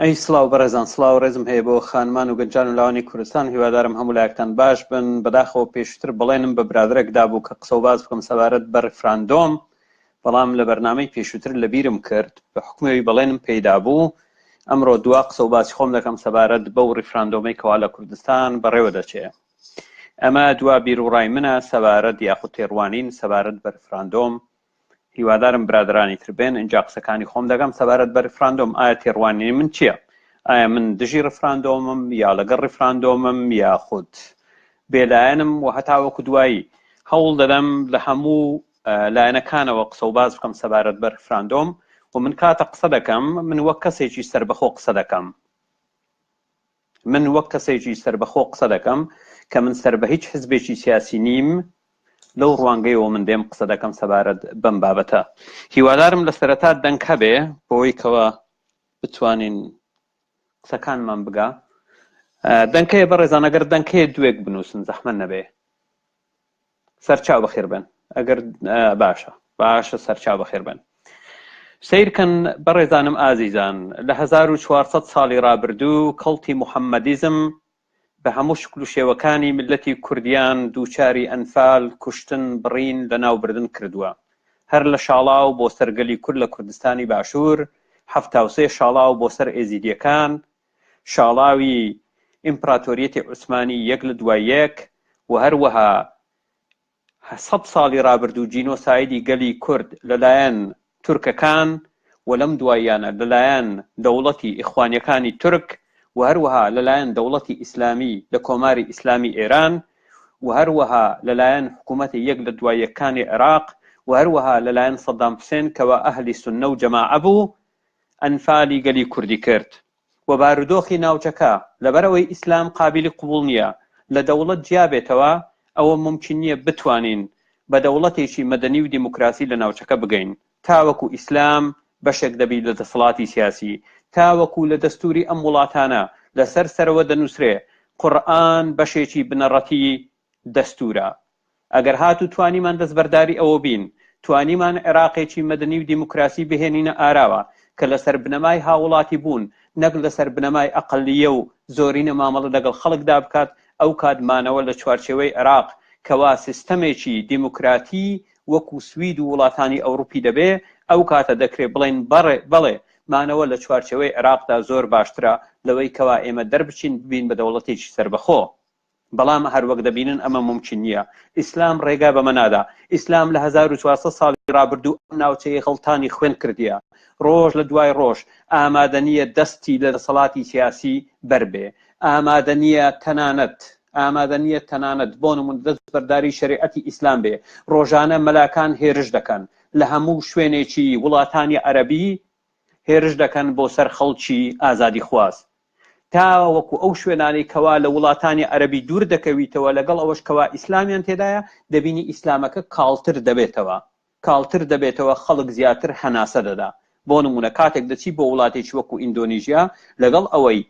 ئەی سلااو بەڕێزان سلااو ڕێزم هەیە بۆ خانمان و گەنجان و لاوانی کوردستان هیوادارم هەموو لایەکتان باش بن بەداخەوە پێشتر بڵێنم بە برادرێک دابوو کە قسە و باز بکەم سەبارەت بە ڕفراندۆم بەڵام لە بەرنمەی پێشووتر لە بیرم کرد بە حکومەوی بەڵێنم پێیدا بوو ئەمڕۆ دوا قسە و باسی خۆم دەکەم سەبارەت بەو ڕفراندۆمی کەوا لە کوردستان بەڕێوە دەچێ ئەمە دوا بیروڕای منە سەبارەت یاخود تێڕوانین سەبارەت بە ریفراندۆم. هیوادارم برادرانی تر بێن ئینجا قسەکانی خۆم دەگەم سەبارەت بە ریفراندۆم ئایا تێڕوانینی من چییە؟ ئایا من دژی ریفراندۆمم یا لەگەڵ ریفراندۆمم یاخود بێلایەنم و هەتاوەکو دوایی هەوڵ دەدەم لە هەموو لایەنەکانەوە قسە و باس بکەم سەبارەت بە ریفراندۆم و من کاتە قسە دەکەم من وەک کەسێکی سربەخۆ قسە دەکەم من وەک کەسێکی سەربەخۆ قسە دەکەم کە من سەر بە هیچ حزبێکی سیاسی نیم، لەو ڕوانگەیەوە من دێم قسە دەکەم سەبارەت بەم بابەتە. هیوادارم لە سەرەتا دەنگ هەبێ بۆی کەوا بتوانین قسەکانمان بگا. دەنکەیە بەڕێزان ئەگەر دەنکەیە دوێک بنووسن زەحمەت نەبێ. سەرچاو بەخێر بن ئەگەر باشە باشە سەرچاو بەخێر بن سیرکەن بەڕێزانم ئازیزان لە 1400 ساڵی رابردوو کەڵتی محەممەدیزم بە هەموو شکل و شێوەکانی ملەتی کوردیان دووچاری ئەنفال کوشتن بڕین لە ناوبردن کردووە هەر لە شاڵاو بۆ سەرگەلی کورد لە کوردستانی باشوور حەفتاوسێ شاڵاو بۆ سەر ئێزیدیەکان شاڵاوی ئیمپراتۆریەتی عوسمانی یەک لە دوای یەک و هەروەها سەد ساڵی رابردوو جینۆسایدی گەلی کورد لەلایەن تورکەکان و لەم دواییانە لەلایەن دەوڵەتی ئیخوانیەکانی تورک و هەروەها لەلایەن دەوڵەتی ئیسلامی لە کۆماری ئیسلامی ئێران و هەروەها لەلایەن حکوومەتی یەک لە دوای یەکانی عێراق و هەروەها لەلایەن سەدام حوسێن کەوا ئەهلی سوننە و جەماعە بوو ئەنفالی گەلی کوردی کرد و بارودۆخی ناوچەکە لەبەر ئەوەی ئیسلام قابیلی قبوڵ نییە لە دەوڵەت جیا بێتەوە ئەوە مومکین نییە بتوانین بە دەوڵەتێکی مەدەنی و دیموکراسی لە ناوچەکە بگەین تاوەکو ئیسلام بەشێک دەبی لە دەسەڵاتی سیاسی تاوەکو لە دەستوری ئەم وڵاتانە لەسەر سەرەوە دەنوسرێ قورئان بەشێکی بنەڕەتی دەستوورە. ئەگەر هاتوو توانیمان دەستبەرداری ئەوە بین، توانیمان عێراقێکی مەدەنی و دیموکراسی بهێنینە ئاراوە کە لەسەر بنەمای هاووڵاتیبوون نەک لەسەر بنەمای ئەقەلییە و زۆرینە مامەڵە لەگەڵ خەڵکدا بکات، ئەو کات مانەوە لە چوارچێوەی عێراق کە وا سیستەمێکی دیموکراتی وەکوو سوید و وڵاتانی ئەوڕوپی دەبێ، ئەو کاتە دەکرێ بڵێین بەڵێ مانەوە لە چوارچێوەی عێراقدا زۆر باشترە لەوەی کەوا ئێمە دەربچین ببین بە دەوڵەتێکی سەربەخۆ. بەڵام هەر وەک دەبینن ئەمە مومکین نییە. ئیسلام ڕێگا بەمە نادا. ئیسلام لە هەزار و چوار سەد ساڵی ڕابردوو ئەم ناوچەیەی غڵتانی خوێن کردیە. ڕۆژ لە دوای ڕۆژ ئامادە نییە دەستی لە دەسەڵاتی سیاسی بەر بێ. ئامادە نییە تەنانەت ئامادە نییە تەنانەت بۆ نموونە دەستبەرداری شەریعەتی ئیسلام بێ. ڕۆژانە مەلاکان هێرش دەکەن لە هەموو شوێنێکی وڵاتانی عەرەبی هێرش دەکەن بۆ سەر خەڵکی ئازادیخواز. تا وەکو ئەو شوێنانەی کەوا لە وڵاتانی عەرەبی دوور دەکەویتەوە لەگەڵ ئەوەش کەوا ئیسلامیان تێدایە دەبینی ئیسلامەکە کاڵتر دەبێتەوە کاڵتر دەبێتەوە خەڵک زیاتر هەناسە دەدا بۆ نمونە کاتێک دەچی بۆ وڵاتێکی وەکو ئیندۆنیژیا لەگەڵ ئەوەی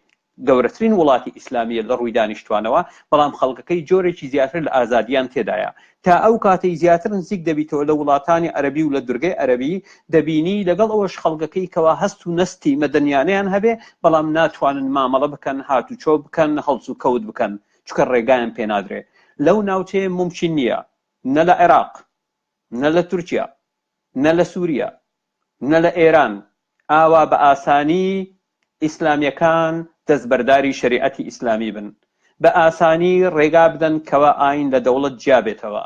گەورەترین وڵاتی ئیسلامیە لە ڕووی دانیشتوانەوە بەڵام خەڵکەکەی جۆرێکی زیاتر لە ئازادیان تێدایە تا ئەو کاتەی زیاتر نزیک دەبیتەوە لە وڵاتانی عەرەبی و لە دورگەی عەرەبی دەبینی لەگەڵ ئەوەش خەڵگەکەی کەوا هەست و نەستی مەدەنیانەیان هەبێ بەڵام ناتوانن مامەڵە بکەن هاتوچۆ بکەن هەڵس و کەوت بکەن چونکە ڕێگایان پێ نادرێ لەو ناوچەیە مومکین نیە نە لە عێراق نە لە تورکیا نە لە سوریا نە لە ئێران ئاوا بە ئاسانی ئیسلامیەکان دەستبەرداری شەریعەتی ئیسلامی بن بە ئاسانی ڕێگا بدەن کەوا ئایین لە دەوڵەت جیا بێتەوە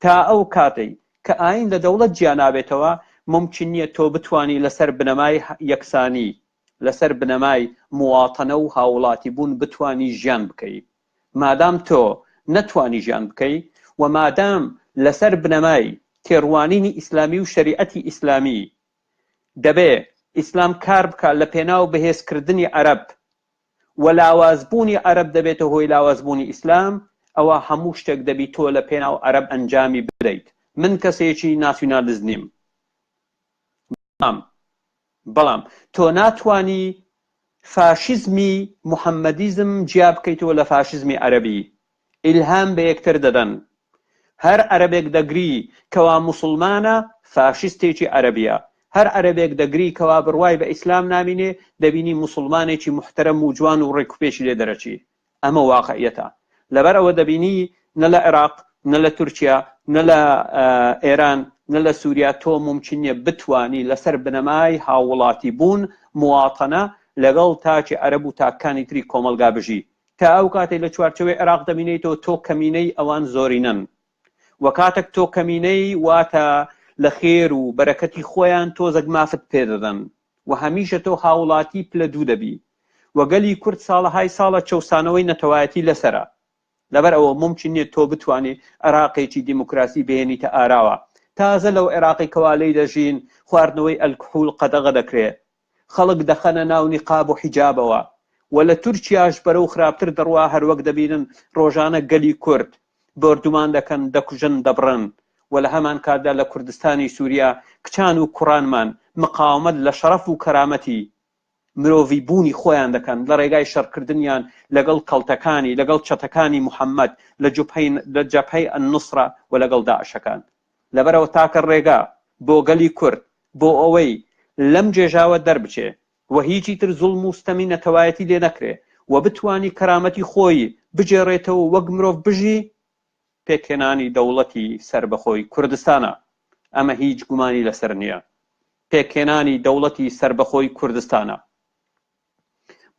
تا ئەو کاتەی کە ئایین لە دەوڵەت جیا نابێتەوە مومکین نیە تۆ بتوانی لەسەر بنەمای یەکسانی لەسەر بنەمای مواطنە و هاوڵاتی بوون بتوانی ژیان بکەی مادام تۆ نەتوانی ژیان بکەی و مادام لەسەر بنەمای تێڕوانینی ئیسلامی و شەریعەتی ئیسلامی دەبێ ئیسلام کار بکا لە پێناو بەهێز کردنی عەرەب و لاواز بوونی عەرەب دەبێتە هۆی لاواز بوونی ئیسلام ئەوا هەموو شتێک دەبی تۆ لە پێناو عەرەب ئەنجامی بدەیت من کەسێکی ناسیونالیست نیم بەڵام بەڵام تۆ ناتوانی فاشیزمی محەمەدیزم جیا بکەیتەوە لە فاشیزمی عەرەبی، ئیلهام بە یەکتر دەدەن. هەر عەرەبێک دەگری کەوا موسڵمانە، فاشیستێکی عەرەبیە. هەر عەرەبێک دەگری کەوا بڕوای بە ئیسلام نامینێ، دەبینی موسڵمانێکی موحتەرەم و جوان و ڕێک و پێکی لێ دەرەچی. ئەمە واقعیەتە لەبەر ئەوە دەبینی نە لە عێراق نە لە تورکیا نە لە ئێران نە لە سووریا تۆ ممکن نیە بتانی لەسەر بنەمای هاووڵاتی بوون مواتەنە لەگەڵ تاکی عەرەب و تاکانی تری کۆمەڵگا بژی تا ئەو کاتەی لە چوارچەوەی عێراق دەمینێیتەوە تۆ کەمینەی ئەوان زۆرینەن وە کاتەک تۆ کەمینەی واتە لە خێر و بەرەکەتی خۆیان تۆزەک مافت پێ دەدەن وە هەمیشە تۆ هاوڵاتی پلە دوو دەبی وە گەلی کورد ساڵەهای ساڵە چەوسانەوەی نەتەوایەتی لەسەرە لەبەر ئەوە مومکین نیە تۆ بتوانی عێراقێکی دیموکراسی بهێنیتە ئاراوە تازە لەو عێراقەی کەوا لێی دەژین خواردنەوەی ئەلکحول قەدەغە دەکرێ خەڵک دەخەنە ناو نیقاب و حیجابەوە و لە تورکیاش بەرەو خراپتر دەڕوا هەروەک دەبینن ڕۆژانە گەلی کورد بۆردومان دەکەن دەکوژن دەبڕن و لە هەمان کاتدا لە کوردستانی سوریا کچان و کوڕانمان مقاومەت لە شەڕەف و کەرامەتی مرۆڤی بوونی خۆیان دەکەن لە ڕێگای شەڕکردنیان لەگەڵ کەڵتەکانی لەگەڵ چەتەکانی محمد لە جبهەی لە جەبهەی النصرە و لەگەڵ داعشەکان. لەبەرئەوە تاکە ڕێگا بۆ گەلی کورد بۆ ئەوەی لەم گێژاوە دەربچێ و هیچی تر زوڵم و ستەمی نەتەوایەتی لێ نەکرێ و بتوانی کەرامەتی خۆی بگێڕێتەوە و وەک مرۆڤ بژی، پێکهێنانی دەوڵەتی سەربەخۆی کوردستانە. ئەمە هیچ گومانی لەسەر نییە. پێکهێنانی دەوڵەتی سەربەخۆی کوردستانە.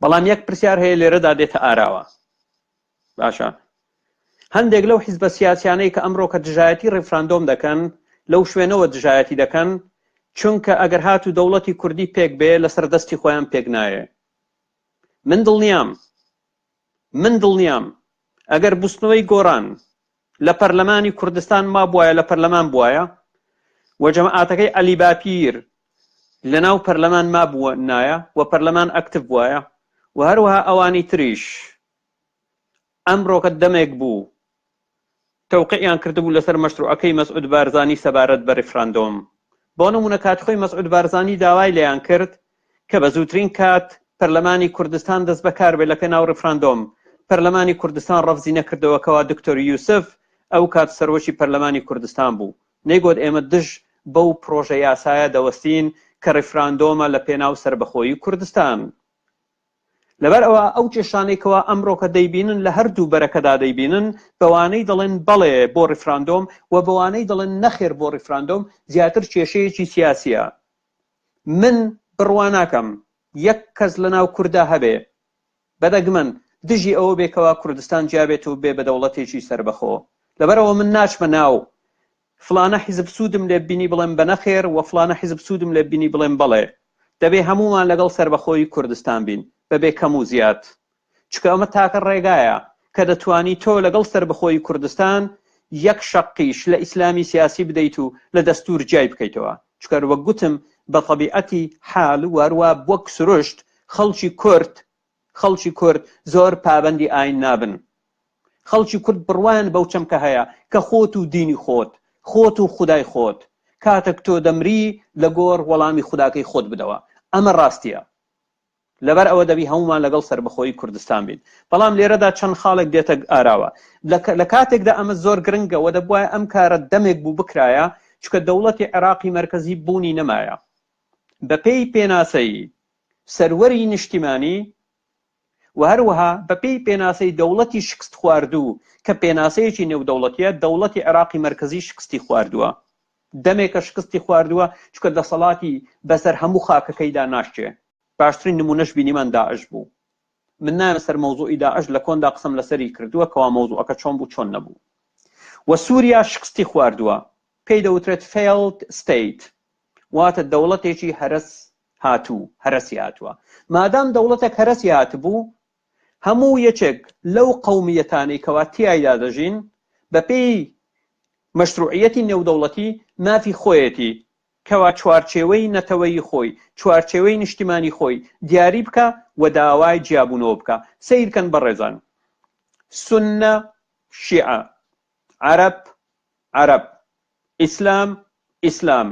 بەڵام یەک پرسیار هەیە لێرەدا دێتە ئاراوە باشە هەندێک لەو حیزبە سیاسیانەی کە ئەمڕۆ کە دژایەتی ڕیفراندۆم دەکەن لەو شوێنەوە دژایەتی دەکەن چونکە ئەگەر هات و دەوڵەتی کوردی پێک بێ لەسەر دەستی خۆیان پێک نایە من دڵنیام من دڵنیام ئەگەر بستنەوەی گۆران لە پەرلەمانی کوردستان مابوایە لە پەرلەمان بوایە و جەماعاتەکەی عەلی باپیر لە ناو پەرلەمان مابووە نایە و پەرلەمان ئەکتف بوایە و هەروەها ئەوانی تریش ئەمڕۆکە دەمێک بوو تەوقعیان کردبوو لەسەر مەشروعەکەی مەسعود بارزانی سەبارەت بە ریفراندۆم بۆ نمونە کات خۆی مەسعود بارزانی داوای لەیان کرد کە بە زووترین کات پەرلەمانی کوردستان دەست بەکار بێت لە پێناو ڕیفراندۆم، پەرلەمانی کوردستان ڕەفزی نەکردەوە کەوا دکتۆر یوسف ئەو کات سەرۆکی پەرلەمانی کوردستان بوو نەیگۆت ئێمە دژ بەو پڕۆژە یاسایە دەوەستین کە ڕیفراندۆمە لە پێناو سەربەخۆیی کوردستان. لەبەر ئەوە ئەو کێشانەی کەوا ئەمڕۆکە دەیبینن لە هەردوو بەرەکەدا دەیبینن بەوانەی دەڵێن بەڵێ بۆ ڕیفراندۆم و بەوانەی دەڵێن نەخێر بۆ ڕیفراندۆم زیاتر کێشەیەکی سیاسیە من بڕوا ناکەم یەک کەس لە ناو کوردا هەبێ بە دەگمەن دژی ئەوە بێ کەوا کوردستان جیا بێت و بێ بە دەوڵەتێکی سەربەخۆ. لەبەرئەوە من ناچمە ناو فلانە حیزب سوودم لێ ببینی بڵێم بە نەخێر و فلانە حیزب سوودم لێ ببینی بڵێم بەڵێ. دەبێ هەموومان لەگەڵ سەربەخۆیی کوردستان بین بە بێ کەم و زیاد. چونکە ئەمە تاکە ڕێگایە کە دەتوانی تۆ لەگەڵ سەربەخۆیی کوردستان یەک شەقیش لە ئیسلامی سیاسی بدەیت و لە دەستور جیای بکەیتەوە چکار وەک گوتم بە تەبیعەتی حال واروا بوەک سروشت خەڵکی کورد خەڵکی کورد زۆر پابەندی ئاین نابن خەڵکی کورد بڕوایان بەو چەمکە هەیە کە خۆت و دینی خۆت خۆت و خودای خۆت کاتەک تۆ دەمری لە گۆڕ وەڵامی خوداکەی خۆت بدەوە ئەمە ڕاستیە لەبەر ئەوە دەبی هەموومان لەگەڵ سەربەخۆیی کوردستان بین. بەڵام لێرەدا چەند خاڵێک دێتە ئاراوە. لە کاتێکدا ئەمە زۆر گرنگە و دەبوایە ئەم کارە دەمێک بوو بکرایە، چونکە دەوڵەتی عێراقی مەرکەزی بوونی نەمایە. بەپێی پێناسەی سەروەری نیشتیمانی و هەروەها بەپێی پێناسەی دەوڵەتی شکستخواردوو کە پێناسەیەکی نێودەوڵەتییە، دەوڵەتی عێراقی مەرکەزی شکستی خواردووە. دەمێکە شکستی خواردووە چونکە دەسەڵاتی بەسەر هەموو خاکەکەیدا ناشچێ باشترین نمونەش بینیمان داعش بوو من نایەمە سەر مەوزوعی داعش لە کۆندا قسم لەسەری کردووە کەوا مەوزوعەکە چۆن بوو چۆن نەبوو و سووریا شکستی خواردووە پێی دەوترێت فێڵد ستیت واتە دەوڵەتێکی هەرس هاتوو هەرسی هاتووە مادام دەوڵەتێک هەرسی هاتبوو هەموو یەکێک لەو قەومییەتانەی کەوا تیایدا دەژین بە پێی مەشروعییەتی نێودەوڵەتی مافی خۆیەتی کەوا چوارچێوەی نەتەوەیی خۆی، چوارچێوەی نیشتیمانی خۆی دیاری بکا و داوای جیابوونەوە بکا. سەیر کەن بەڕێزان. سوننە، شیعە. عەرەب، عەرەب. ئیسلام، ئیسلام.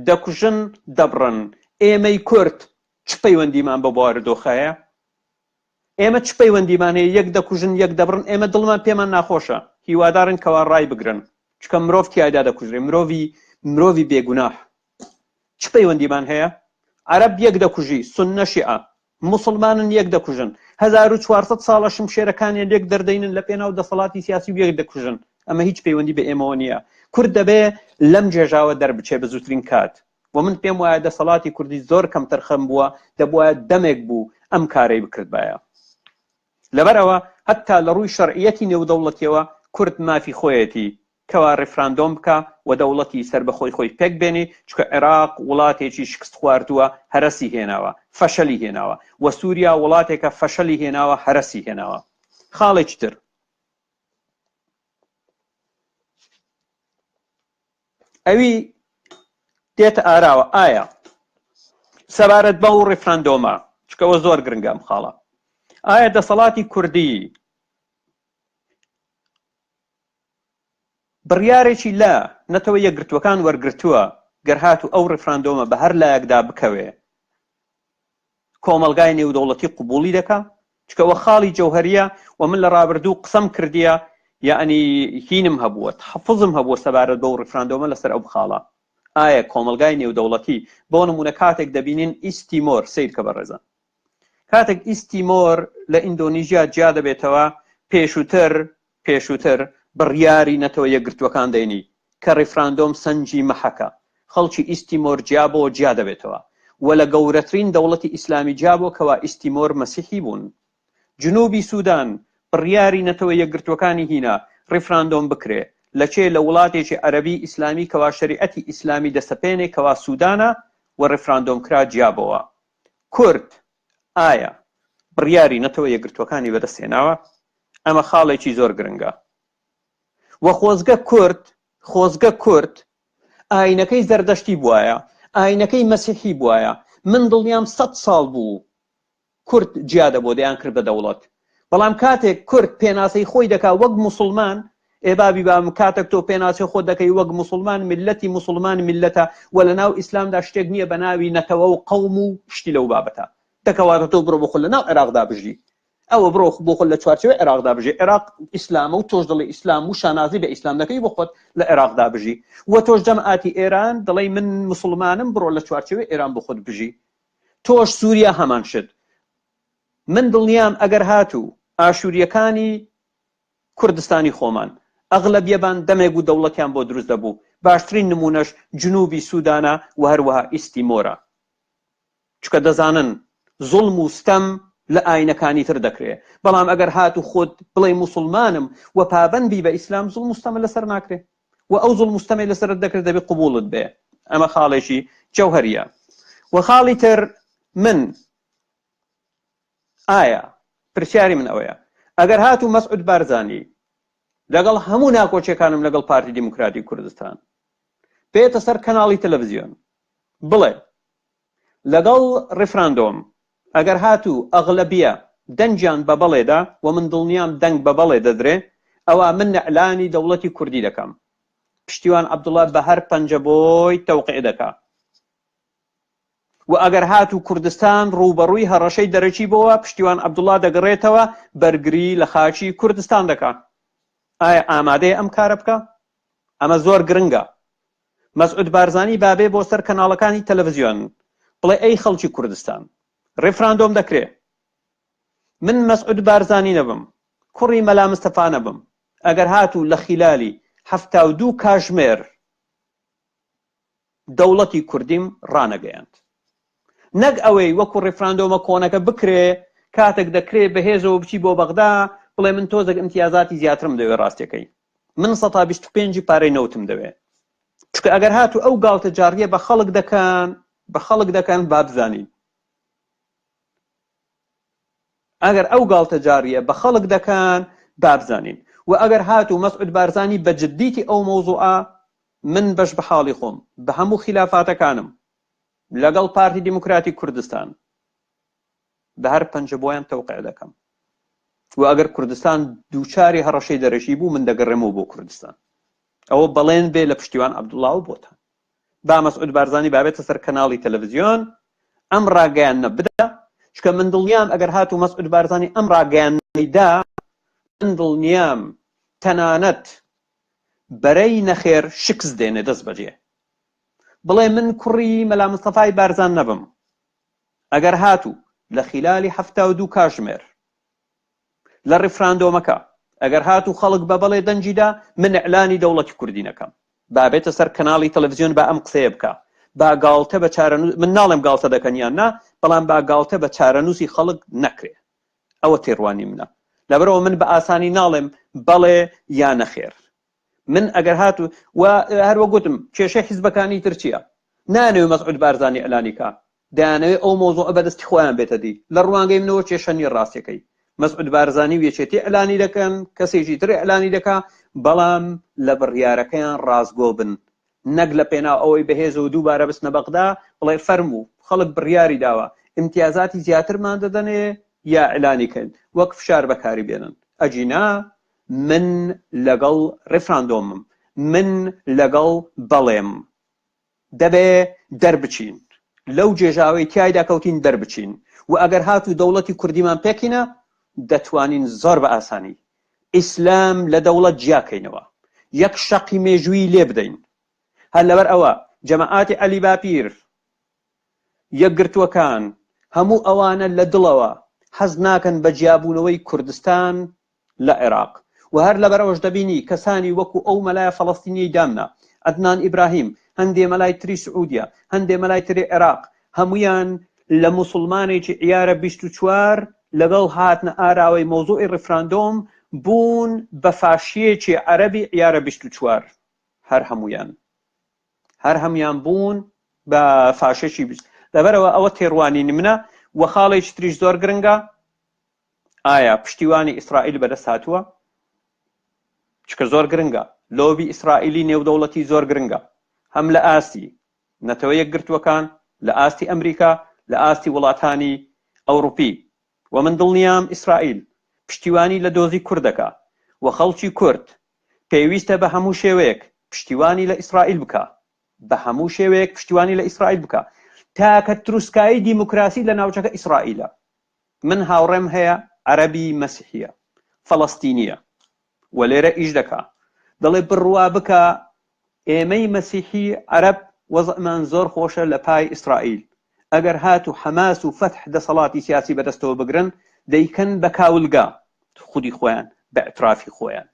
دەکوژن، دەبڕن. ئێمەی کورد چ پەیوەندیمان بەو بارودۆخە هەیە؟ ئێمە چ پەیوەندیمان هەیە یەک دەکوژن یەک دەبڕن ئێمە دڵمان پێمان ناخۆشە هیوادارن کەوا ڕای بگرن چکە مرۆڤ تایدا دەکوژێ مرۆڤی مرۆڤی بێگوناح چ پەیوەندیمان هەیە عرب یەک دەکوژی سنە شیعە مسلمانن یەک دەکوژن 1400 ساڵە شمشێرەکانیان یەک دەردەینن لە پێناو دەسەڵاتی سیاسی و یەک دەکوژن ئەمە هیچ پەیوەندی بە ئێمەوە نییە کورد دەبێ لەم جێژاوە دەربچێ بە زووترین کات و من پێم وایە دەسەڵاتی کوردی زۆر کەم تەرخەم بووە دەبواە دەمێک بوو ئەم کارەی بکردبایە لەبەرەوە هەتا لە ڕووی شەرعەتی نێودەوڵەتیەوە کورد مافی خۆیەتی کەوا ڕفراندۆم بکە و دەوڵەتی سەر بەخۆی خۆی پێک بێنی چکە عێراق وڵاتێکی شکست خواردووە هەرسی هێناوە فەشەلی هێناوە وە سووریا وڵاتێکە فەشەلی هێناوە هەرسی هێناوە خاڵێکی تر ئەوی دێتە ئاراوە ئایا سەبارەت بە و ڕیفراندۆمە چکەوە زۆر گرنگەم خاڵە ئایا دەسەڵاتی کوردی بڕیارێکی لە نەتەوە یەکگرتووەکان وەرگتووە گەر هاتو ئەو ڕفراندۆمە بە هەر لایەکدا بکەوێ کۆمەڵگای نێودەوڵەتی قبوڵی دەکا چکە وە خاڵی جەوهریە و من لە ڕابردوو قسەم کردیە یعنی هینم هەبووە حەفزم هەبووە سەبارەت بەو ڕفراندۆمە لەسەر ئەو خاڵە ئایا کۆمەلگای نێودەوڵەتی بۆ نمونە کاتێک دەبینین ئیسیمۆر سیر کە بەڕێزان کاتێک ئیسیمۆر لە ئیندۆنیژیا جیا دەبێتەوە پێشووتر پێشووتر بڕیاری نەتەوە یەکگرتووەکان دەینی کە ڕیفراندۆم سەنگی مەحەکە، خەڵکی ئیست تیمۆر جیا بۆ جیا دەبێتەوە و لە گەورەترین دەوڵەتی ئیسلامی جیا بۆ کەوا ئیست تیمۆر مەسیحی بوون. جنوبی سودان بڕیاری نەتەوە یەکگرتووەکانی هینا ڕیفراندۆم بکرێ لە چێ لە وڵاتێکی عەرەبی ئیسلامی کەوا شەریعەتی ئیسلامی دەسەپێنێ کەوا سودانە و ڕیفراندۆم کرا جیا بۆوە کورد ئایا بڕیاری نەتەوە یەکگرتووەکانی بەدەست هێناوە؟ ئەمە خاڵێکی زۆر گرنگە. وە خۆزگە کورد خۆزگە کورد ئاینەکەی زەردەشتی بواە ئاینەکەی مەسیحی بواە من دڵنیام سەد ساڵ بوو کورد جیادە بۆ دەیان کرد بە دەوڵەت بەڵام کاتێک کورد پێناسەی خۆی دەکا وەک موسڵمان ئێ بابی بام کاتێک تۆ پێناسەی خۆ دەکەی وەک موسڵمان ملەتی موسڵمان ملەتە و لە ناو ئیسلامدا شتێک نییە بە ناوی نەتەوە و قەوم و شتی لەو بابەتە دەکەواتە تۆ بڕۆ بخۆ لە ناو عێراقدا بژی ئەوە بڕۆ بۆ خۆ لە چوارچەوەی عێراقدا بژی عێراق ئیسلامە و تۆش دڵی ئیسلام و شانازی بە ئیسلام دەکەی بۆ خۆت لە عێراقدا بژی و تۆش جەماتی ئێران دڵی من مسلمانم بڕۆ لە چوارچەوەی ئێران بۆ خۆت بژی تۆش سووریا هەمان شت من دڵنیام ئەگەر هاتوو ئاشوریەکانی کوردستانی خۆمان ئەغلەبیەبان دەمێک و دەوڵەتیان بۆ دروست دەبوو باشترین نمونەش جنوبی سودانە و هەروەها ئیستیمۆرە چکە دەزانن زوڵم و ستەم لە ئاینەکانی تر دەکرێ بەڵام ئەگەر هاتوو خۆت بڵێ موسڵمانم و پابەند بی بە ئیسلام زوڵم و ستەمە لەسەر ناکرێ و ئەو زوڵم و ستەمەی لەسەرت دەکرێت دەبێ قبوڵت بێ ئەمە خاڵێکی جەوهەریە و خاڵی تر من ئایا پرسیاری من ئەوەیە ئەگەر هاتوو مەسعود بارزانی لەگەڵ هەموو ناکۆچیەکانم لەگەڵ پارتی دیموکراتی کوردستان بێتە سەر کەناڵی تەلەڤزیۆن بڵێ لەگەڵ ڕفراندۆم ئەگەر هاتوو ئەغلبیە دەنجیان بە بەڵێدا و من دڵنیام دەنگ بە بەڵێ دەدرێ ئەوە من نەعلانی دەوڵەتی کوردی دەکەم پشتیوان عبدوڵە بە هەر پەنجە بۆی تەوقع دەکا و ئەگەر هاتوو کوردستان ڕووبەڕووی هەڕەشەی دەرەکی بۆوە پشتیوان عەبدوڵا دەگڕێتەوە بەرگری لە خاکی کوردستان دەکا ئایا ئامادەیە ئەم کارە بکا ئەمە زۆر گرنگە مەسعود بارزانی بابێ بۆ سەر کەناڵەکانی تەلەڤزیۆن بڵێ ئەی خەڵکی کوردستان ڕفراندۆم دەکرێ من مەسعود بارزانی نەبم کوڕی مەلا مستەفا نەبم ئەگەر هاتوو لە خیلالی هەفتا و دوو کاژمێر دەوڵەتی کوردیم ڕانەگەیاند. نەک ئەوەی وەکو ڕیفراندۆمە کۆنەکە بکرێ کاتەک دەکرێ بەهێزەوە بچی بۆ بەغدا بڵێ من تۆزەک ئیمتیازاتی زیاترم دەوێ ڕاستەکەی من سەتا بیست و پێنجی پارەی نەوتم دەوێ چکە ئەگەر هاتو ئەو گاڵتە جاڕیە بە خەڵک دەکەن بە خەڵک دەکەن بابزانین ئەگەر ئەو گاڵتەجاڕیە بە خەڵک دەکەن بابزانین وە ئەگەر هاتوو مەسعود بارزانی بە جدیتی ئەو مەوزوعە من بەش بە حاڵی خۆم بە هەموو خیلافاتەکانم لەگەڵ پارتی دیموکراتی کوردستان بە هەر پەنجە بۆیان تەوقع دەکەم و ئەگەر کوردستان دووچاری هەڕەشەی دەرەکی بوو من دەگەڕێمەوە بۆ کوردستان ئەوە بەڵێن بێ لە پشتیوان عبدوڵاو بۆتان با مەسعود بارزانی بابێتە سەر کەناڵی تەلەڤزیۆن ئەم ڕاگەیانە بدا چکە من دڵنیام ئەگەر هات و مەسعود بارزانی ئەم ڕاگەیاندا من دڵنیام تەنانەت بەرەی نەخێر شکست دێنێ دەست بەجێ بڵێ من کوڕی مەلا مستەفای بارزان نەبم ئەگەر هاتوو لە خلالی هەفتا و دوو کاژمێر لە ڕیفراندۆمەکە ئەگەر هات و خەڵک بە بەڵێ دەنگی دا من ئیعلانی دەوڵەتی کوردی نەکەم با بێتە سەر کەناڵی تەلەڤزیۆن با ئەم قسەیە بکا با گاڵتە بە چارەنووس من ناڵێم گاڵتە دەکەن یان نا بەڵام با گاڵتە بە چارەنووسی خەڵک نەکرێ ئەوە تێڕوانی منە لەبەرەوە من بە ئاسانی ناڵێم بەڵێ یا نەخێر من ئەگەر هات و هەروە گوتم کێشە حیزبەکانی ترچیە نانەوێ مەسعود بارزانانی ئەلانیکە دەیانەوێت ئەو مەوزوعە بە دەستی خۆیان بێتە دی، لە ڕوانگەی منەوە کێشە نییە ڕاستییەکەی مەسعود بارزانی و یەکێتی ئیعلانی دەکەن، کەسێکی تر ئیعلانی دەکا، بەڵام لە بڕیارەکەیان ڕاستگۆ بن، نەک لە پێناو ئەوەی بەهێزەوە دووبارە بچنە بەغدا بڵێ فەرموو خەڵک بڕیاری داوە ئیمتیازاتی زیاترمان دەدەنێ یا ئیعلانی کەین وەک فشار بەکاری بێنن ئەگینا من لەگەڵ ڕیفراندۆمم من لەگەڵ بەڵێم. دەبێ دەربچین لەو جێژاوەی تیایدا کەوتین دەربچین و ئەگەر هات و دەوڵەتی کوردیمان پێکینا دەتوانین زۆر بە ئاسانی ئیسلام لە دەوڵەت جیاکەینەوە یەک شەقی مێژووی لێ بدەین هەر لەبەر ئەوە جەماعاتی عەلی باپیر یەکگرتووەکان هەموو ئەوانە لە دڵەوە حەز ناکەن بە جیابوونەوەی کوردستان لە عێراق و هەر لەبەرئەوەش دەبینی کەسانی وەکو ئەو مەلایە فەلەستینیەی دامنا عەدنان ئیبراهیم هەندێ مەلای تری سعودیە هەندێ مەلای تری عێراق هەموویان لە موسڵمانێکی عیارە بیست و چوار لەگەڵ هاتنە ئاراوەی مەوزوعی ڕیفراندۆم بوون بە فاشیەکی عەرەبی عیارە بیست و چوار هەر هەموویان هەر هەمویان بوون بە فاشێکی بیست لەبەرەوە ئەوە تێڕوانینی منە و خاڵێکی تریش زۆر گرنگە ئایا پشتیوانی ئیسرائیل بەدەست هاتووە؟ چکە زۆر گرنگە لۆبی ئیسرائیلی نێودەوڵەتی زۆر گرنگە هەم لە ئاستی نەتەوە یەکگرتووەکان لە ئاستی ئەمریکا لە ئاستی وڵاتانی ئەوروپی و من دڵنیام ئیسرائیل پشتیوانی لە دۆزی کورد دەکا و خەڵکی کورد پێویستە بە هەموو شێوەیەک پشتیوانی لە ئیسرائیل بکا بە هەموو شێوەیەک پشتیوانی لە ئیسرائیل بکا تاکە تروسکایی دیموکراسی لە ناوچەکە ئیسرائیلە من هاوڕێم هەیە عەرەبی مەسیحیە فەڵەستینیە و لێرە ئیش دەکا دەڵێ بڕوا بکە ئێمەی مەسیحی عەرەب وەزعمان زۆر خۆشە لە پای ئیسرائیل ئەگەر هات و حەماس و فەتح دەسەڵاتی سیاسی بەدەستەوە بگرن دەیکەن بە کاولگا خودی خۆیان بە ئەترافی خۆیان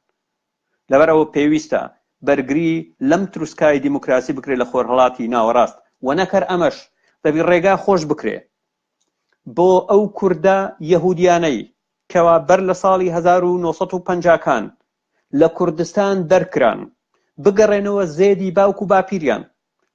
لەبەرەوە پێویستە بەرگری لەم تروسکای دیموکراسی بکرێت لە خۆرهەڵاتی ناوەڕاست و نەکەر ئەمەش دەبی ڕێگا خۆش بکرێ بۆ ئەو کوردە یەهودیانەی کەوا بەر لە ساڵی هەزار و نۆ سەد و پەنجا کان لە کوردستان دەرکران بگەڕێنەوە زێدی باوک و باپیریان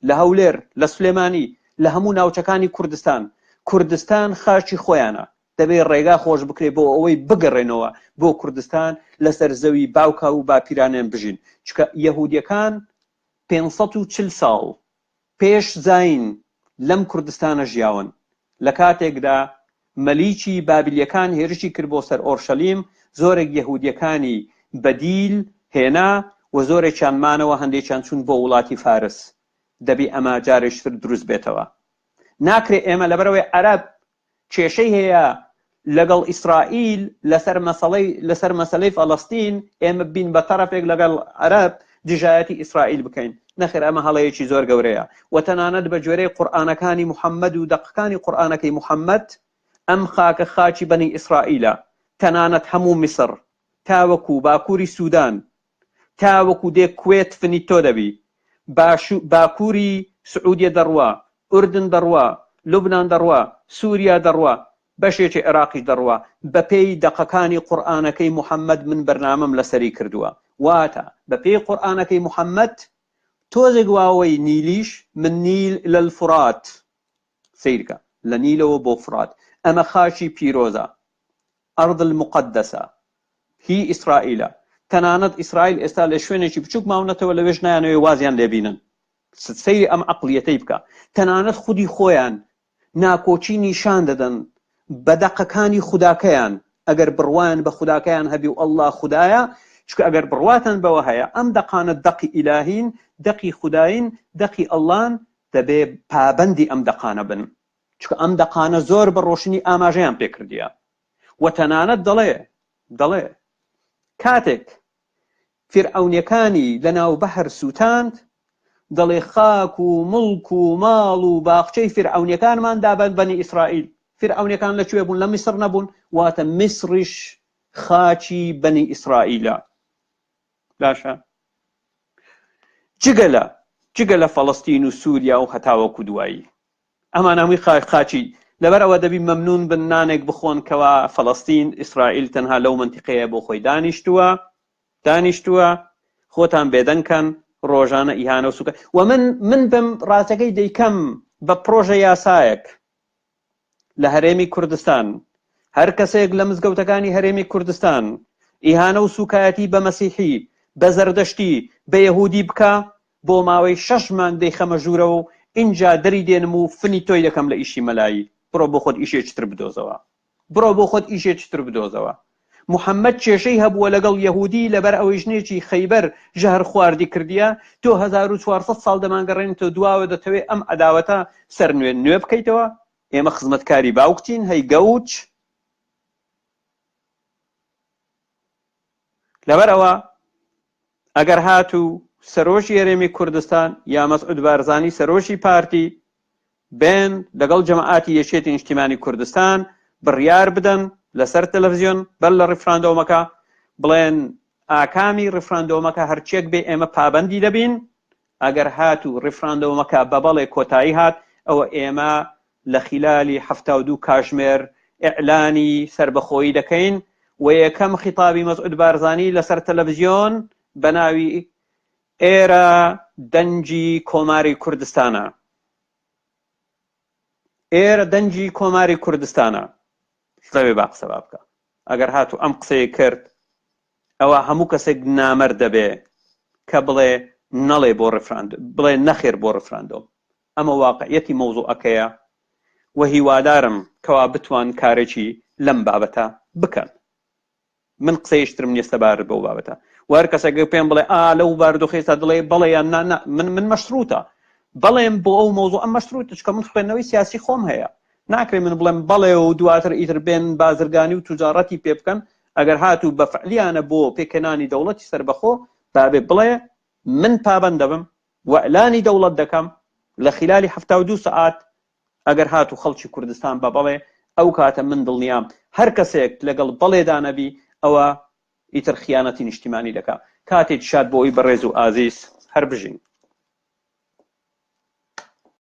لە هەولێر لە سلێمانی لە هەموو ناوچەکانی کوردستان کوردستان خاچی خۆیانە دەبێ ڕێگا خۆش بکرێ بۆ ئەوەی بگەڕێنەوە بۆ کوردستان لەسەر زەوی باوکا و باپیرانیان بژین چکە یەهودیەکان پێنج سەد و چل ساڵ پێش زاین لەم کوردستانە ژیاون، لە کاتێکدا مەلیکی بابلیەکان هێرشی کرد بۆ سەر ئۆرشەلیم، زۆرێک یەهودیەکانی بەدیل هێنا و زۆرێکیان مانەوە، هەندێکیان چوون بۆ وڵاتی فارس، دەبی ئەمە جارێکتر دروست بێتەوە، ناکرێت ئێمە لەبەرئەوەی عەرەب کێشەی هەیە لەگەڵ ئیسرائیل لەسەر مەسەڵەی لەسەر مەسەلەی فەلەستین ئێمە بین بە تەرەفێک لەگەڵ عەرەب دژایەتی ئیسرائیل بکەین نەخێر ئەمە هەڵەیەکی زۆر گەورەیە و تەنانەت بە گوێرەی قورئانەکانی محەممەد و دەقەکانی قورئانەکەی محەممەد ئەم خاکە خاکی بەنی ئیسرائیلە تەنانەت هەموو میسر تاوەکو باکووری سوودان تاوەکو دێ کوێت فنیتۆ دەبی باشو باکوری سعودیە دەڕوا ئوردن دەڕوا لوبنان دەڕوا سوریا دەڕوا بەشێکی عێراقیش دەڕوا بەپێی دەقەکانی قورئانەکەی موحەمەد من بەرنامەم لەسەری کردوە واتە بەپێی قورئانەکەی موحەمەد تۆزێک واوەی نیلیش من نیل الالفرات سەیرکە لە نیلەوە بۆ فرات ئەمە خاکی پیرۆزە ئەرض المقدسە هی ئیسرائیلە، تەنانەت ئیسرائیل ئێستا لە شوێنێکی بچوک ماونەتەوە لەوێش نایانەوێ وازیان لێ بینن سەیری ئەم عەقڵیەتەی بکە تەنانەت خودی خۆیان ناکۆکی نیشان دەدەن بە دەقەکانی خوداکەیان ئەگەر بڕوایان بە خوداکەیان هەبی و اللە خودایە چونکە ئەگەر بڕواتان بەوە هەیە ئەم دەقانە دەقی ئیلاهین دەقی خوداین دەقی اللەن دەبێ پابەندی ئەم دەقانە بن چونکە ئەم دەقانە زۆر بە ڕۆشنی ئاماژەیان پێ کردیە و تەنانەت دەڵێ دەڵێ کاتێک فیرعەونیەکانی لە ناو بەحر سووتاند دەڵێ خاک و مڵک و ماڵ و باخچەی فیرعەونیەکانمان دابەن بەنی ئیسرائیل فیرعەونیەکان لە کوێ بوون لە میسر نەبوون واتە میسریش خاچی بەنی ئیسرائیلە باشە جگە لە جگە لە فەڵستین و سووریا و هەتاوەکو دوایی ئەمان هەمووی قا قاچی لەبەر ئەوە دەبی مەمنون بن نانێک بخۆن کەوا فەڵەستین ئیسرائیل تەنها لەو منتیقەیە بۆ خۆی دانیشتووە دانیشتووە خۆتان بێدەنکەن ڕۆژانە ئیهانە و سوکە و من من بم ڕاستەکەی دەیکەم بە پرۆژە یاسایەک لە هەرێمی کوردستان هەر کەسێک لە مزگەوتەکانی هەرێمی کوردستان ئیهانە و سوکایەتی بە مەسیحی بە زەردەشتی بە یهودی بکە بۆ ماوەی شەش مانگ دەیخەمە ژوورەوە و ئینجا دەری دێنم و فنی تۆی دەکەم لە ئیشی مەلایی، بڕۆ بۆ خۆت ئیشێکی تر بدۆزەوە. بڕۆ بۆ خۆت ئیشێکی تر بدۆزەوە. محەمەد کێشەی هەبووە لەگەڵ یەهوودی لەبەر ئەوەی ژنێکی خەیبەر ژەهرخواردی کردیە، تۆ هەزار و چوار سەد ساڵ دەمانگەڕێنیتەوە دواوە دەتەوێ ئەم عەداوەتە سەر نوێ نوێ بکەیتەوە؟ ئێمە خزمەتکاری باوکتین هەی گەوج. لەبەر ئەوە. ئەگەر هاتوو سەرۆکی هەرێمی کوردستان یا مەسعود بارزانی سەرۆکی پارتی بێن لەگەڵ جەماعاتی یەکێتی نیشتیمانی کوردستان بڕیار بدەن لەسەر تەلەفزیۆن بەر لە ڕیفراندۆمەکە بڵێن ئاکامی ڕیفراندۆمەکە هەرچێک بێ ئێمە پابەندی دەبین ئەگەر هاتوو ڕیفراندۆمەکە بە بەڵێ کۆتایی هات ئەوە ئێمە لە خیلالی حەفتا و دوو کاژمێر ئیعلانی سەربەخۆیی دەکەین و یەکەم خیتابی مەسعود بارزانی لەسەر تەلەفزیۆن بەناوی، ئێرە دەنگی کۆماری کوردستانە. ئێرە دەنگی کۆماری کوردستانە. لەوێ با قسە با بکە. ئەگەر هاتو ئەم قسەی کرد ئەوە هەموو کەسێک نامەرد دەبێ کە بڵێ نەڵێ بۆ ڕفراند بڵێ نەخێر بۆ ڕفراندۆم ئەمە واقعیەتی مەوزوعەکەیە و هیوادارم کەوا بتوان کارێکی لەم بابەتە بکەن. من قسەی شترم نیە سەبارەت بەو بابەتە و هەر کەسێک پێم بڵێ ئا لەو بارودۆخەی ئێستا دڵێ بەڵێ یان نا نا من من مەشروتە بەڵێم بۆ ئەو مەوزوعە مەشروتە چکە من خوێندنەوەی سیاسی خۆم هەیە ناکرێ من بڵێم بەڵێ و دواتر ئیتر بێن بازرگانی و توجاڕەتی پێ بکەن ئەگەر هاتوو بە فعلیانە بۆ پێکهێنانی دەوڵەتی سەربەخۆ بابێ بڵێ من پابەند دەبم وئلانی دەوڵەت دەکەم لە خیلالی حەفتا و دوو سەعات ئەگەر هاتو خەڵکی کوردستان بە بەڵێ ئەو کاتە من دڵنیام هەر کەسێک لەگەڵ بەڵێ دا نەبی ئەوە ئیتر خیانەتی نیشتیمانی دەکا کاتێکی شاد بۆی بەڕێزو ئازیز هەر بژین.